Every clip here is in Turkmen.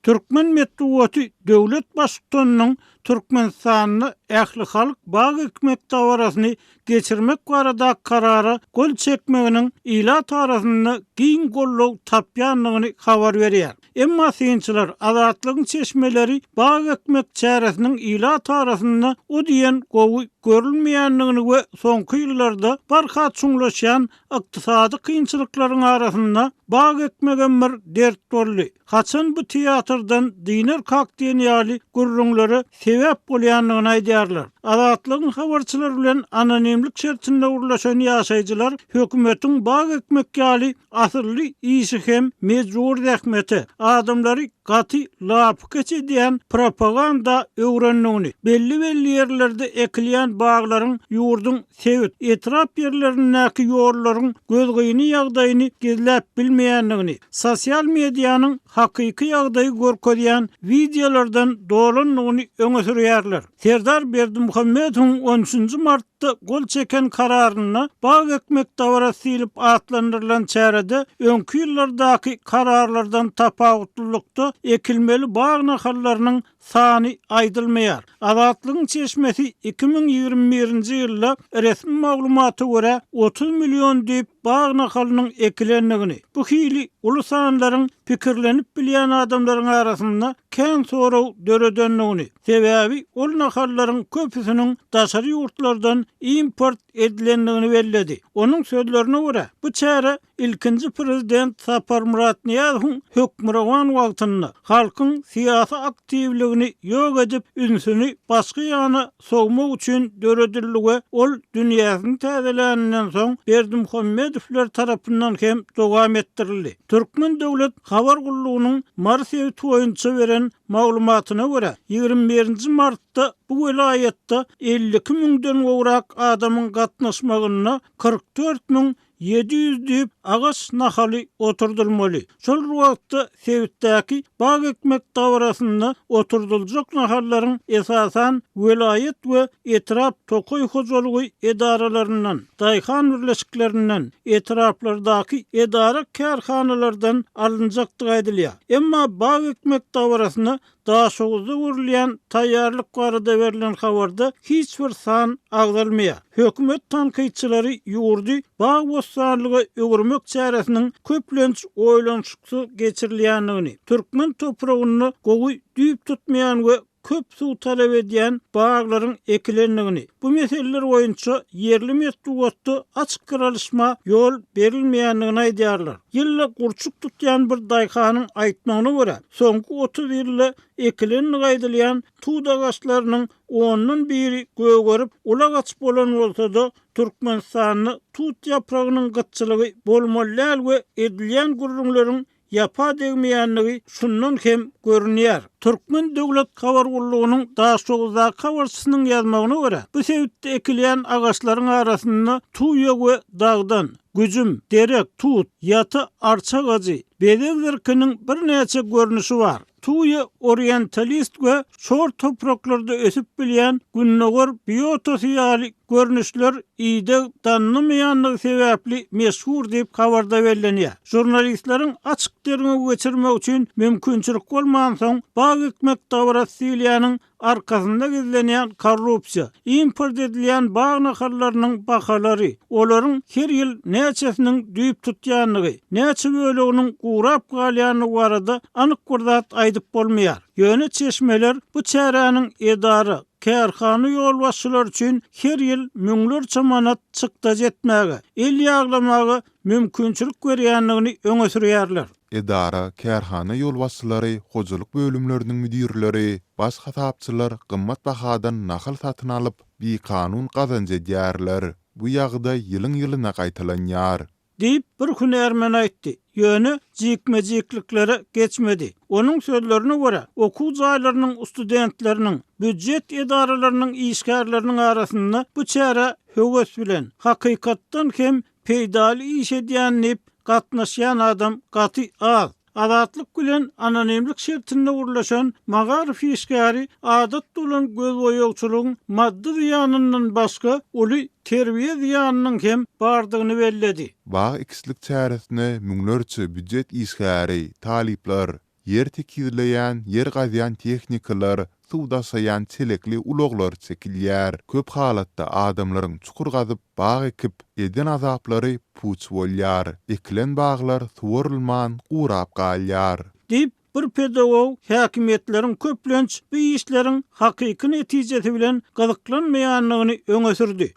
Türkmen metbugaty döwlet baştutanynyň Türkmenistanda ählihalk bag ekmek dabarasyny geçirmek baradaky karara gol çekmeginiň ilat arasynda giň goldaw tapýandygyny habar berýär. Emma synçylar Azatlygyň çeşmeleri bag ekmek çäresiniň ilat arasynda o diýen gowy görülmeýändigini we soňky ýyllarda barha çuňlaşýan ykdysady kynçylyklaryň arasynda bag ekmegem bir dert boldy, Haçan bu teatrdan dynar kak diýen ýaly gürrüňlere sebäp bolýandygyny aýdýarlar. Azatlygyň habarçylary bilen anonimlik şertinde gürleşen ýaşaýjylar hökümetiň bag ekmek ýaly asylly işi hem mejbury zähmete, adamlary gaty lapykeç edýän propaganda öwrendigini, belli-belli ýerlerde ekilýän baglaryň ýurduň sebit, etrap ýerlerindäki ýollaryň gözgyny ýagdaýyny gizläp bilmeýändigini, sosial medianyň hakyky ýagdaýy görkezýän wideolardan dolandygyny öňe sürýärler. Serdar Berdimuhamedowyň on üçünji martda gol çeken kararynda Bag ekmek dabarasy diýlip atlandyrylan çärede öňki ýyllardaky kararlardan tapawutlylykda ekilmeli bag nahallarynyň sany aýdylmaýar. Azatlygyň çeşmesi iki müň ýigrimi birinji ýylda resmi maglumata görä, otuz million düýp bag nahalynyň ekilendigini, bu hili uly sanlaryň pikirlenip bilýän adamlaryň arasynda kän soraw döredendigini, sebäbi ol nahallaryň köpüsiniň daşary ýurtlardan import edilendigini belledi. Onuň sözlerine görä, bu çäre Ilkinji prezident Saparmyrat Nyýazowyň hökmürowan wagtynda halkyň syýasy aktiwligini ýok edip, ünsüni başga ýana sowmak üçin döredildi we ol dünýäsini täzeläninden soň Berdimuhamedowlar tarapyndan hem dowam etdirildi. Türkmen döwlet habar gullugynyň Mary sebiti boýunça beren maglumatyna görä, ýigrimi birinji martda bu welaýatda elli iki müňden gowrak adamyň gatnaşmagynda kyrk dört müň Ýedi ýüz düýp agaç nahaly oturdylmaly. Şol bir wagtda sebitdäki bag ekmek dabarasynda oturdyljak nahallaryň esasan welaýat we etrap tokaý hojalygy edaralaryndan, daýhan birleşiklerinden, etraplardaky edara-kärhanalardan alynjakdygy aýdylýar. Emma bag ekmek dabarasyna Daşoguzda gurulýan taýýarlyk barada berlen habarda hiç bir san agzalmaýar. Hökümet tankytçylary ýurdy bag-bossanlyga öwürmek çäresiniň köplenç oýlanyşyksyz geçirilýändigini, türkmen topragynda gowy düýp tutmaýan we köp suw talap edýän baglaryň ekilendigini, bu meseleler boýunça ýerli metbugatda açyk garalyşma ýol berilmeýändigini aýdýarlar. Ýylda gurçuk tutýan bir daýhanyň aýtmagyna görä, Soňky otuz ýylda ekilenligi aýdylýan tut agaçlarynyň ondan biri gögerip, ula gaçyp bolan bolsa-da, Türkmenistanda tut ýapragynyň gytçylygy bolmaly däl we edilýän gürrüňleriň ýapa degmeýändigi şundan hem görünýär. Türkmen döwlet habar gullugynyň Daşoguzdaky habarçysynyň ýazmagyna görä, bu sebitde ekilýän agaçlaryň arasynda tuýa we dagdan, Güjüm, derek, tut, ýaty, arça agajy, bezeg zirkiniň birnäçe görnüşi bar. Tuýa orientalist we şor topraklarda ösüp bilýän gündogar biotosy ýaly görnüşler ideg danynamaýandygy sebäpli meşhur diýip, habarda bellenýär. Žurnalistleriň açyk derňew geçirmek üçin mümkinçilik bolmansoň, bag ekmek dabarasy diýilýäniň arkasynda gizlenýän korrupsiýa, import edilýän bag nahallarynyň bahalary, olaryň her ýyl näçesiniň düýp tutýandygy, näçe böleginiň gurap galýandygy barada anyk bir zat aýdyp bolmaýar. Ýöne çeşmeler bu çäräniň edara, kärhana ýolbaşçylary üçin her ýyl müňlerçe manat çykdajy etmäge, el ýaglamaga mümkinçilik berýändigini öňe sürýärler. Edara, kärhana ýolbaşçylary, hojalyk bölümleriniň müdirleri, baş hasapçylar gymmat bahadan nahal satyn alyp, bikanun gazanç edýärler. Bu ýagdaý ýylyň-ýylyna gaýtalanýar. Diýip, bir hünärmen aýtdy. Ýöne jikme-jikliklere geçmedi. Onuň sözlerine görä, okuw jaýlarynyň studentleriniň, býujet edaralarynyň işgärleriniň arasynda bu çärä höwes bilen, hakykatdan hem Peýdaly iş edýän diyip gatnaşýan adam gaty az. Azatlyk bilen anonimlik şertinde gürleşen magaryf işgäri adatda bolan gözboýagçylygyň maddy zyýanyndan başga uly terbiýe zyýanynyň hem bardygyny belledi. Bag ekişlik çäresine müňlerçe býujet işgäri, talyplar, Ýer tekizleýän, ýer gazýan tehnikalar, suw daşaýan çelekli ulaglar çekilýär. Köp halatda adamlaryň çukur gazyp, bag ekip, eden azaplary puç bolýar. Ekilen baglar suwarylman, gurap galýar. Diýip, bir pedagog häkimiýetleriň köplenç bu işleriň hakyky netijesi bilen gyzyklanmaýandygyny öňe sürdi.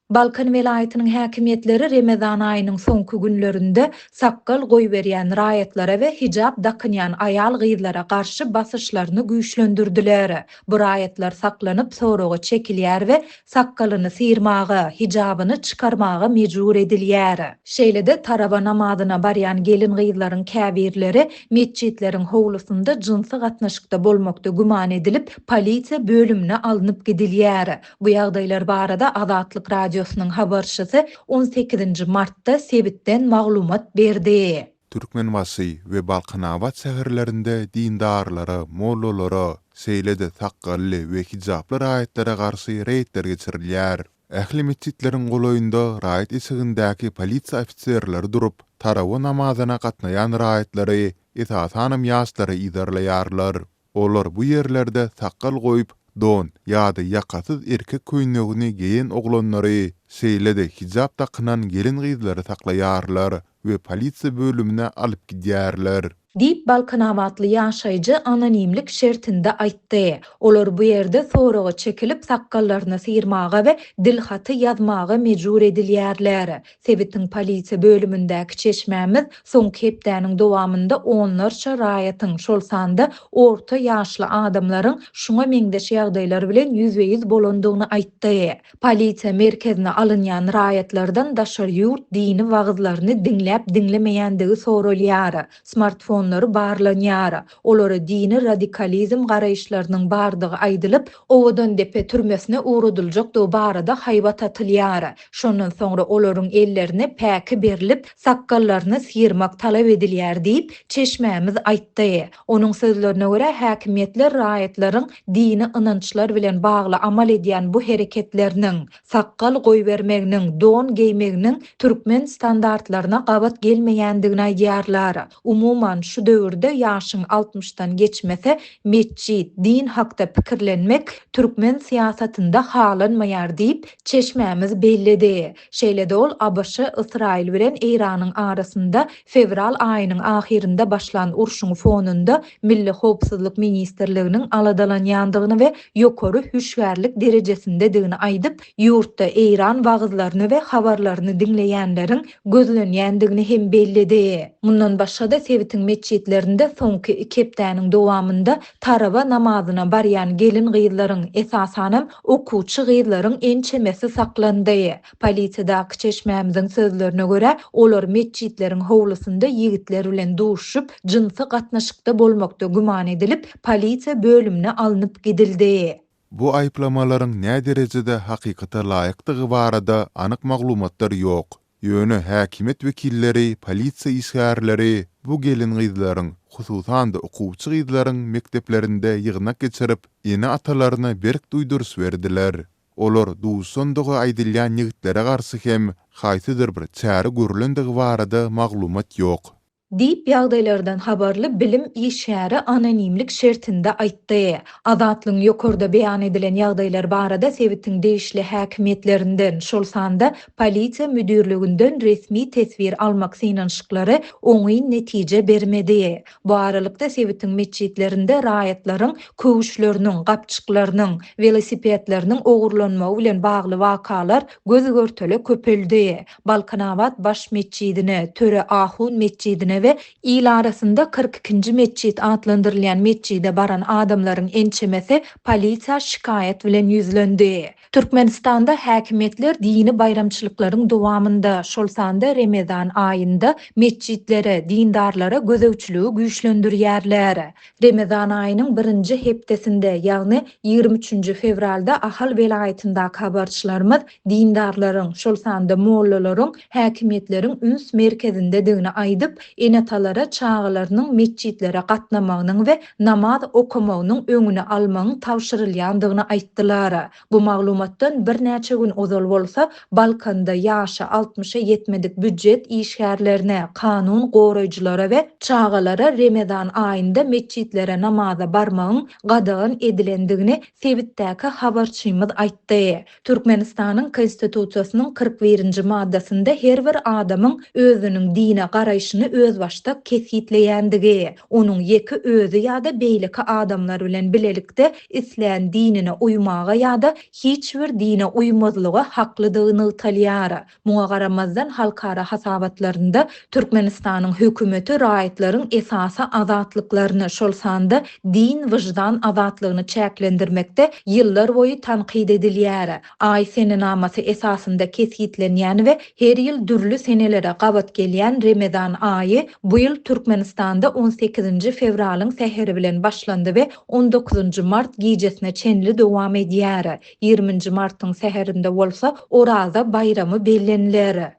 Balkan welaýatynyň häkimiýetleri Remezan aýynyň soňky günlerinde sakgal goýberýän raýatlara we hijap dakynýan aýal-gyzlara garşy basyşlaryny güýçlendirdiler. Bu raýatlar saklanyp soraga çekilýär we sakgalyny syrmaga, hijabyny çykarmaga mejbur edilýär. Şeýle-de tarawa namazyna barýan gelin-gyzlaryň käbirleri metjitleriň howlusynda jynsy gatnaşykda bolmakda güman edilip, polisiýa bölümine alnyp gidilýär. Bu ýagdaýlar barada Azatlyk Radiosynyň habarçysy on sekizinji martda sebitden maglumat berdi. Türkmenbaşy we Balkanabat şäherlerinde dindarlara, mollalara, şeýle-de sakgally we hijaply raýatlara garşy reýdler geçirilýär. Ähli metjitleriň golaýynda raýat eşigindäki polisiýa ofiserleri durup, tarawa namazyna gatnaýan raýatlary, esasanam ýaşlary yzarlaýarlar. Olar bu ýerlerde sakgal goýup, don ýa-da ýakasyz erkek köýnegini geýen oglanlary, şeýle-de hijap dakynan gelin-gyzlary saklaýarlar we polisiýa bölümine alyp gidýärler. Diýip, balkanabatly ýaşaýjy anonimlik şertinde aýtdy. Olar bu ýerde soraga çekilip, sakgallaryny syrmaga we dilhaty ýazmaga mejbur edilýärler. Sebitiň polisiýa bölümindäki çeşmämiz soňky hepdäniň dowamynda onlarça raýatyň, şol sanda orta ýaşly adamlaryň şuňa meňzeş ýagdaýlar bilen ýüzbe-ýüz bolandygyny aýtdy. Polisiýa merkezine alynýan raýatlardan daşary ýurt dini wagyzlaryny diňläp-diňlemeýändigi soralýar, smartfonlary barlanýar, olara dini radikalizm garaýyşlarynyň bardygy aýdylyp, Owadandepe türmesine ugradyljakdygy barada haýbat atylýar. Şondan soňra olaryň ellerine päki berlip, sakgallaryny syrmak talap edilýär diýip, çeşmämiz aýtdy. Onuň sözlerine görä, häkimiýetler raýatlaryň dini ynançlar bilen bagly amal edýän bu hereketleriniň, sakgal goýbermeginiň, don geýmeginiň türkmen standartlaryna gabat gelmeýändigini aýdýarlar. Umuman, şu döwürde ýaşyň altmyşdan geçmese, metjit, din hakda pikirlenmek türkmen syýasatynda halanmaýar diýip, çeşmämiz belledi. Şeýle-de ol ABŞ, Ysraýyl bilen Eýranyň arasynda fewral aýynyň ahyrynda başlan urşuň fonunda Milli howpsuzlyk ministrliginiň aladalanýandygyny we ýokary hüşgärlik derejesindedigini aýdyp, Ýurtda Eýran wagyzlaryny we habarlaryny diňleýänleriň gözlenýändigini hem belledi. Mundan başga-da sebitiň metjitlerinde soňky iki hepdäniň dowamynda Tarawa namazyna barýan gelin-gyzlaryň, esasanam, okuwçy gyzlaryň ençemesi saklandy. Polisiýadaky çeşmämiziň sözlerine görä, olar metjitleriň howlusynda ýigitler bilen duşuşyp, jynsy gatnaşykda bolmakda güman edilip, polisiýa bölümine alnyp gidildi. Bu aýyplamalaryň näderejede hakykata laýykdygy barada anyk maglumatlar ýok. Ýöne häkimiýet wekilleri polisiýa işgärleri bu gelin-gyzlaryň, hususan-da okuwçy gyzlaryň mekdeplerinde ýygnak geçirip, ene-atalaryna berk duýduryş berdiler. Olar duşandygy aýdylýan ýigitlere garşy hem haýsydyr bir çäre görlendigi barada maglumat ýok. Diýip, ýagdaýlardan habarly bilim işgäri anonimlik şertinde aýtdy. Azatlygyň ýokarda beýan edilen ýagdaýlar barada sebitiň degişli häkimiýetlerinden, şol sanda Polisiýa müdirliginden resmi teswir almak synanyşyklary oňyn netije bermedi. Bu aralykda, sebitiň metjitlerinde raýatlaryň köwüşleriniň, gapjyklarynyň, welosipedleriniň ogurlanmagy bilen bagly wakalar göz-görtele köpeldi. Balkanabat baş metjidine, Töre ahun metjidine we il arasynda Kyrk ikinji metjit atlandyrylýan metjide baran adamlaryň ençemesi polisiýa şikaýat bilen ýüzlendi. Türkmenistanda häkimiýetler dini baýramçylyklaryň dowamynda, şol sanda Remezan aýynda metjitlere, dindarlara gözegçiligi güýçlendirýärler. Remezan aýynyň birinji hepdesinde, ýagny ýigrimi üçünji fewralda Ahal welaýatyndaky habarçylarymyz dindarlaryň, şol sanda mollalaryň häkimiýetleriň üns merkezindedigini aýdyp, ene-atalara çagalarynyň metjitlere gatnamagynyň we namaz okamagynyň öňüni almagyň tabşyrylýandygyny aýtdylar. Bu maglumatdan birnäçe gün ozal bolsa, Balkanda ýaşy altmyşa ýetmedik býujet işgärlerine, kanun goraýjylara we çagalara Remezan aýynda metjitlere namaza barmagyň gadagan edilendigini sebitdäki habarçymyz aýtdy. Türkmenistanyň Konstitusiýasynyň kyrk birinji maddasynda her bir adamyň özüniň dine garaýşyny özbaşdak kesgitleýändigi, onuň ýeke özi ýa-da beýleki adamlar bilen bilelikde islän dinine uýmaga ýa-da hiç bir dine uýmazlyga haklydygy nygtalýar. Muňa garamazdan, halkara hasabatlarynda Türkmenistanyň hökümeti raýatlaryň esasy azatlyklaryny, şol sanda din, wyždan azatlygyny çäklendirmekde ýyllarboýy tankyt edilýär. Aý senenamasy esasynda kesgitlenýän we her ýyl dürli senelere gabat gelýän Remezan aýy bu ýyl Türkmenistanda on sekizinji fewralyň säheri bilen başlandy we on dokuzynjy mart gijesine çenli dowam edýär. Ýigriminji martyň säherinde bolsa Oraza baýramy belleniler.